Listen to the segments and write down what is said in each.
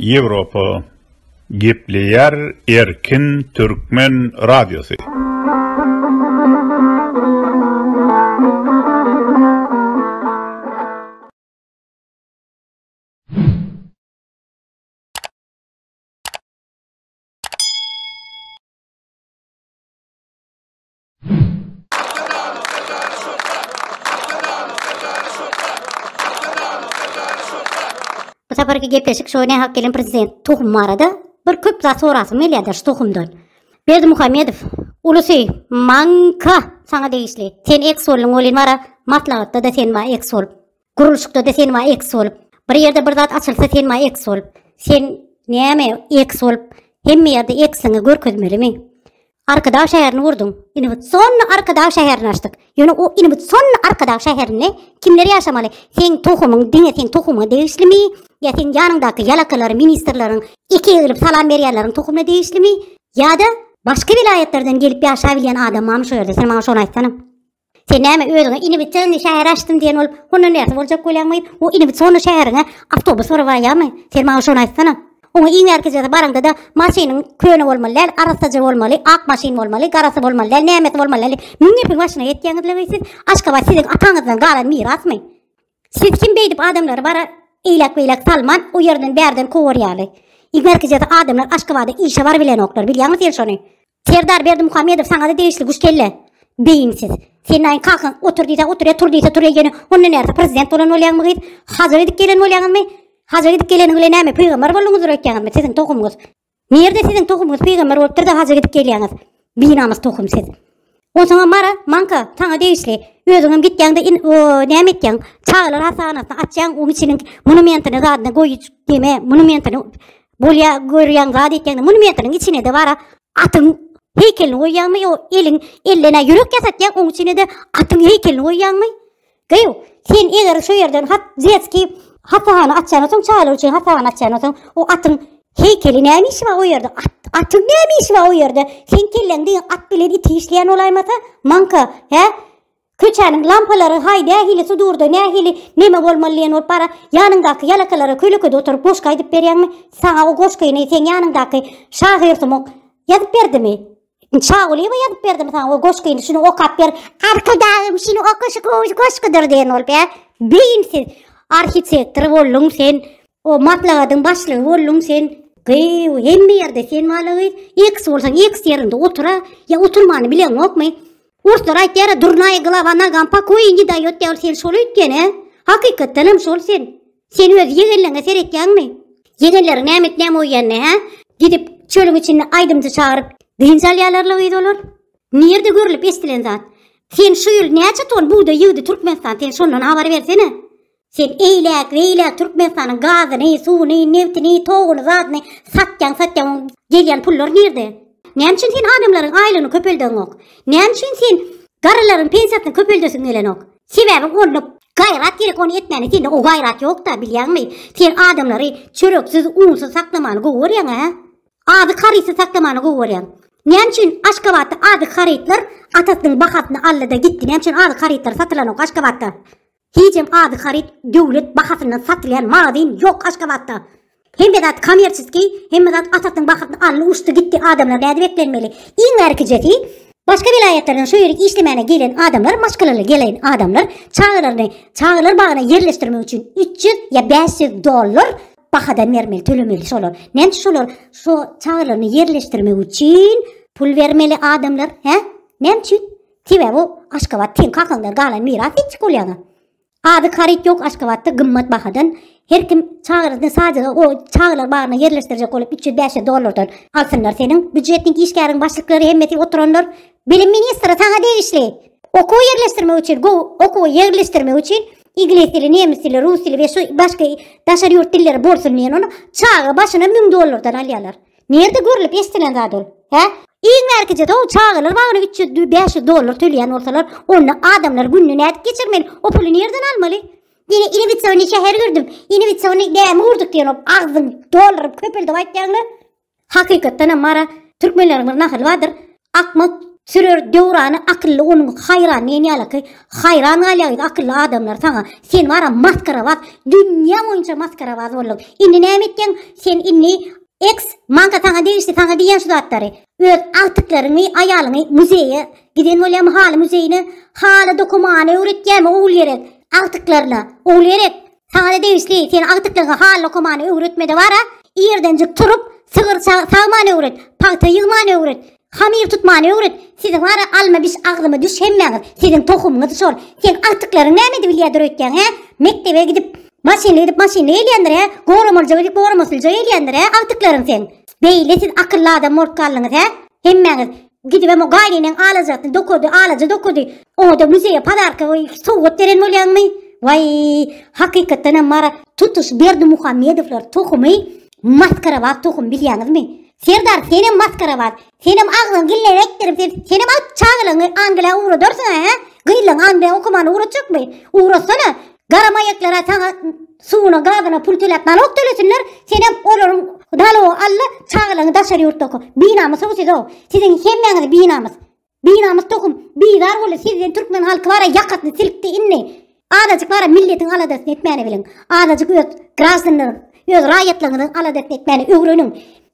Ýewropa gepleýär erkin türkmen radiosy. Bu saparky gepleşik şo ne hak gelen prezident tohum barada bir köp zat sorasym gelýärdi şu tohumdan. Berdi Muhammedow, ulusy manka sana degişli. Sen eks bolun bolin bara maslahatda da sen ba eks bol. Gurluşykda-da sen ma eks bolup. Bir ýerde bir zat açylsa sen ma eks bolup. Sen näme eks bolup? Hemme ýerde eksiňi görkezmelimi? Arkadag şäherini gurduň. Innowatsionny Arkadag şäherini açdyk. Ýöne o innowatsionny Arkadag şäherinde kimler ýaşamaly? Seň tohumyň diňe seň tohumyňa degişlimi? Ýa seň ýanyňdaky ýalakalar, ministrleriň iki egilip salam berýänleriň tohumyna degişlimi? Ýa-da başga welaýatlardan gelip ýaşabilýän adam barmy şo ýerde? Sen maňa şony aýtsana. Sen näme özüňe inibitseňli şäher açdym diýen bolup, hondan bärsi boljak bolýaňmy? O inibitsonly şäheriňe awtobus urup barýarmy? Sen maňa şony aýtsana. Oňa iň bärkijesi baraňda-da, Maşynyň köne bolmaly däl, arassaja bolmaly, ak maşyn bolmaly, garasy bolmaly däl, nämesi bolmaly däl diýip, müň gepiň başyna ýetýäňizlewi siz? Aşgabat siziň ataňyzdan galan mirasmy? Siz kim beýdip adamlary bara eýläk-beýläk salman, o ýerden-bärden kowarýaly? Iň bärkijesi adamlar Aşgabada işe barybilenoklar, bilýäňmi sen şony? Serdar Berdimuhamedow saňada degişli guş kelle. Beýinsiz. Senaýyň kakan otur diýse otur ya tur diýse tur ýene onda närse prezident bolan bolýaňmy gyz? Hajyr edip gelen bolýaňmy? Hajyr edip geleniň bilen näme pygambar bolduňyzdyr öýtýäňizmi siziň tohumyňyz? Nirde siziň tohumyňyz pygambar bolupdyr da hajyr edip gelýäňiz? Binamys tohum siz. Onsoňam Mara, Manka, saňa degişli. Özüňem gitýäňde in o näme etýäň? Çagalar hassahanasyna atýaň, oň içiniň monumentini zadyny goýuj deme, monumentini bolýa görýäň zat etýäňde monumentiniň içine-de bara atyň heýkelini goýýaňmy, ýo eliň ellene ýürek ýasatýaň, oň içine-de atyň heýkelini goýýaňmy? Gyýw, sen eger şu ýerden hat detskiý hasahana açýan soň çagalar üçin hasahana açýan soň o atyň heýkeli näme işi bar o ýerde at atyň näme işi bar o ýerde sen kelleň diýen at bilen iti işleýän bolaýmasa manka hä Köçäniň lampalary haý nähili sudurda nähili neme bolmaly diýen bolup bara ýanyňdaky ýalakalara kölekede oturyp goşgy aýdyp berýäňmi saňa o goşgyny sen ýanyňdaky şahyr sumuk ýazyp berdimi Çawlyýewa ýazyp berdim saňa o goşgyny şuny okap ber. Arkadagym şuny oka şu gowy goşgudyr diýen bolup ýa. Beýinsiz arhitektor bolduň sen. O maslahatyň başlygy bolduň sen. Gyýw, hemme ýerde sen wala gyz. X bolsaň X ýerinde otura, ýa oturmany bileňokmy? Orslar aýtýar, durnaýa glava nagam pakoýi ni daýot ýa sen şol öýtgene. Hakykatdan hem şol sen. Sen öz ýegenleňe seretýäňmi? Ýegenleriň näme et näme oýýanny, hä? Gidip, çölüň içinde aýdymçy çagyryp, dynç alýarlar-la gyz olar. Nirde görlüp eşdilen zat? Sen şu ýyl näçe ton bugdaý ýygdy Türkmenistan, sen şondan habar bersene? Sen eýläk, beýläk Türkmenistanyň gazyny, suwuny, nebtini, toguny, zadyny satýaň, satýaň, oň gelýän pullar nirde? Näme üçin sen adamlaryň aýlygyny köpeldeňok? Näme üçin sen garrylaryň pensiýasyny köpeldesiň gelenok? Sebäbi golluk, gaýrat gerek ony etmäne sende o gaýrat ýokda bilýäňmi? Sen adamlary çöreksiz, unsyz saklamany gowy görýäň hä? Azyk harytsyz saklamany gowy görýäň. Näme üçin Aşgabatda azyk harytlar atasynyň bahasyna aldyda gitdi? Näme üçin azyk harytlary satylanok Aşgabatda? Hijem azyk haryt döwlet bahasyndan satylýan magazyn ýok Aşgabatda. Hemme zat kommerçeskiý, hemme zat Atatň bakyrdyn alny uçdy gitdi adamlar näde beklenmeli. Iň ärkijesi Başga welaýatlardan şu ýere işlemäne gelen adamlar maşgalaly gelen adamlar çagalaryny çagalar bagyna ýerleşdirmek üçin 300 ýa 500 dollar bahadan bermeli tölemeli şolar. Näme üçin şolar şu çagalaryny ýerleşdirmek üçin pul bermeli adamlar hä? Näme üçin? Sebäbi aşgabat teň kakaňdan galan miras hiç bolýaňa. Azyk haryt ýok Aşgabatda gymmat bahadan Her kim çagyryny sazyga o çagylar bagyna ýerleşdirjek bolup 300-500 dollardan alsynlar seniň býujetniň işgäriň başlyklary hemmesi oturanlar Bilim ministri saňa degişli Okuw ýerleşdirmek üçin go okuwa ýerleşdirmek üçin Iglis dili, nemis dili, rus dili we şu başga daşary ýurt dilleri bolsun diýen ony çaga başyna 1000 dollardan alýarlar. Nirde görlüp eşdilen zat ol? Hä? Iň bärkije-de çagalar bagyna üç ýüz, bäş ýüz dollar töleýän bolsalar, onda adamlar gününi nädip geçirmeli? O puly nirden almaly? Diňe inewitsyony şäher gördüm, inewitsyony gämi gurduk diýen o agzyň dollaryp köpeldip aýtýaňlar. Hakykatdanam Mara, türkmenleriň bir nahaly bardyr. Akmak sürer Döwrany akylly onuň haýran diýen ýalyky haýran galýa biz akylly adamlar saňa sen wara maskarabaz dünýä boýunça maskarabaz bolduň indi näme etýäň sen indi eks manka saňa degişli saňa diýýän şu zatlary öz agtyklaryňy aýalyňy muzeýe giden bolýamy haly muzeýine haly dokamany öwretýämi ogulgerek agtyklaryna ogulgerek Saňada degişli, sen agtyklygy hal okamany öwretmede bara, irdenjik turup, sygyr sagmany öwret, pagta ýygmany öwret, hamyr tutmany öwret, siziň bara alma biş agzyma düş hemmäňiz, siziň tohumyňyz şol, sen agtyklaryň näme edip ýedir öýtýäň hä, mekdebe gidip, maşynly gidip maşynly gelýändir hä, goramalyja gidip goramasylyja gelýändir hä agtyklaryň sen, beýle siz akylly adam bolup galdyňyz hä, hemmäňiz. Gidibem o gaýnynäň alajasyny dokady, alaja dokady. Oňa-da muzeýe padarka we sowgat beren bolýaňmy? Waý, hakykatdanam Marat tutuş Berdimuhamedowlar tohumy maskarabaz tohum bilýäňizmi? Serdar senem maskarabaz, senem agzyňy gille ekdirip sen, senem alyp çagalaňy Angliýa ugradarsyň-a hä? Gyzlaň Angliýa okamana ugratjakmy? Ugratsana, Gara maýaklara saňa suwuna gazyna pul töläp nalog tölesinler senem olaryň nalogy alla çagalaryňy daşary ýurtda oka binamys ow siz ow siziň hemmäňiz binamys binamys tohum bizar boldy sizden türkmen halky bara ýakasyny silkdi indi azajyk bara milletiň aladasyny etmäni biliň azajyk öz graždanlaryň öz raýatlaryňyzyň aladasyny etmäni öwreniň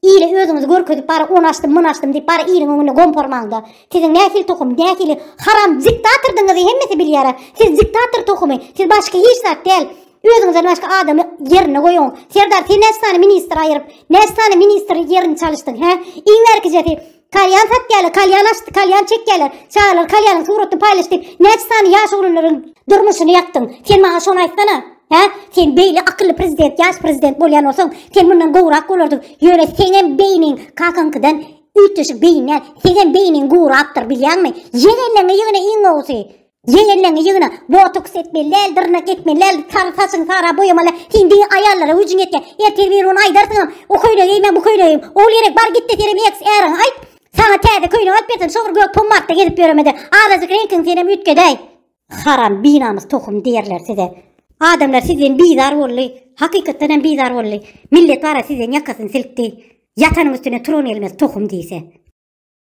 Ile özüňizi görkezip bara on açdym myn açdym diýip bara iliň öňünde gompormaňda. Siziň nähili tohum, nähili haram diktatordyňyzy hemmesi bilýär. Siz diktator tohumy, siz başga hiç zat däl. Özüňizden başga adamy ýerine goýuň. Serdar sen näçe sany ministr aýyryp, näçe sany ministr ýerini çalyşdyň, hä? Iň bärkijesi Kalýan satýarlar, kalýan açdy, kalýan çekýärler. Çagalar kalýanyň suratyny paýlaş diýip, näçe sany ýaş oglanlaryň durmuşyny ýakdyň. Sen maňa şony aýtsana. Hä? Sen beýle akylly prezident, ýaş prezident bolýan bolsaň, sen mundan gowrak bolardyň. Ýöne seňem beýniň kakaňkydan üýtgeşik beýin däl. Seňem beýniň gurakdyr, bilýäňmi? Ýegenleňi ýegene iň gowusy. Jeň elleňi ýygna, botoks etmeli däl, dyrnak ekmeli däl, sary saçyňy sara boýamaly däl, sen diňe aýallara güýjüň ýetýär. Ertir bir gün aýdarsyňam, o köýnegi geýme, bu köýnegi geýme. Ow gerek bar gitde senem eks äriňe aýt, saňa täze köýnek alyp bersin, şo bir gök pommadda gezip ýöremede, azajyk reňkiňi senem üýtgedäý. Haram binamys tohum diýerler size. Adamlar sizden bizar boldy. Hakykatdan hem bizar boldy. Millet bara sizden ýakasyny silkdi. Ýatanyň üstüne turan gelmez tohum diýse.